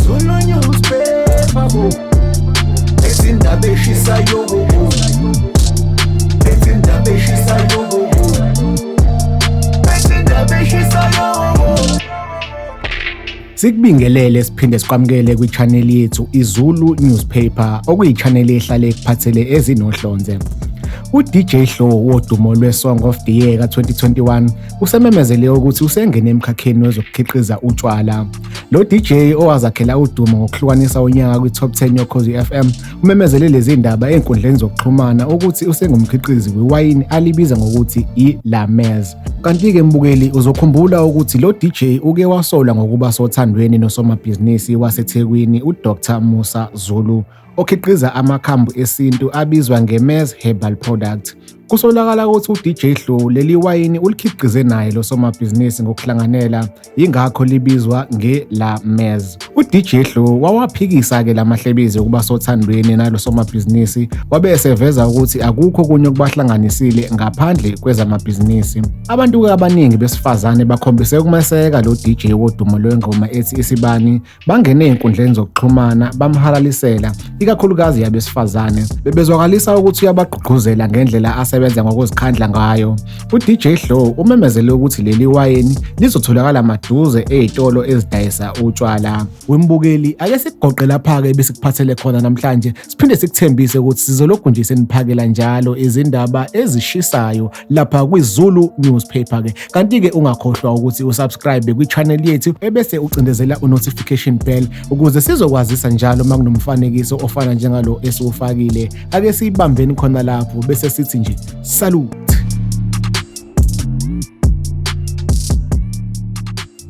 Zulu newspaper bo Ezindaba eshisayo bo Ezindaba eshisayo bo Ezindaba eshisayo bo Sikubingelele siphinde sikwamukele kwi-channel yethu iZulu Newspaper okuyi-channel ehlale ekuphathele ezinohlonze. UDJ Hlo wodumo lweSong of the Year ka-2021 usememezele ukuthi usengene emkhakheni wezokukhiqiza utshwala lo DJ owazakhela udumo ngokuhlukanisa unyaka kwi-top 10 yokhozi FM umemezele lezi ndaba ezinkundleni zokuxhumana ukuthi usengumkhiqizi wewayini alibiza ngokuthi i-Lamez kanti-ke mbukeli uzokhumbula ukuthi lo DJ uke wasola ngokuba sothandweni nosomabhizinisi waseThekwini uDr Musa Zulu okhiqiza amakhambu esintu abizwa ngeMez Herbal Product. Kusolakala ukuthi uDJ Hlu leli wayini ulikhiqize naye lo somabhizinisi ngokuhlanganela, yingakho libizwa nge-La Mez. UDJ Hlu wawaphikisa-ke la mahlebezi ukuba sothandweni nalo somabhizinisi, wabe eseveza ukuthi akukho kunye okubahlanganisile ngaphandle kwezamabhizinisi. Abantu-ke abaningi besifazane bakhombise ukumeseka lo DJ wodumo lwengoma ethi Isibani Bangene ezinkundleni zokuxhumana bamhalalisela, ikakhulukazi yabesifazane, bebezwakalisa ukuthi uyabagqugquzela ngendlela asebenza ngokuzikhandla ngayo. UDJ Hlo umemezele ukuthi leli wayini lizotholakala maduze ezitolo ezidayisa utshwala. Wembukeli, ake sikugoqe lapha-ke ebesikuphathele khona namhlanje, siphinde sikuthembise ukuthi sizolokhu nje seniphakela njalo izindaba ezishisayo lapha kwiZulu newspaper ke kanti ke ungakhohlwa ukuthi usubscribe kwichannel yethu ebese ucindezela unotification bell ukuze sizokwazisa njalo uma kunomfanekiso ofana njengalo esiwufakile ake siyibambeni khona lapho bese sithi nje salute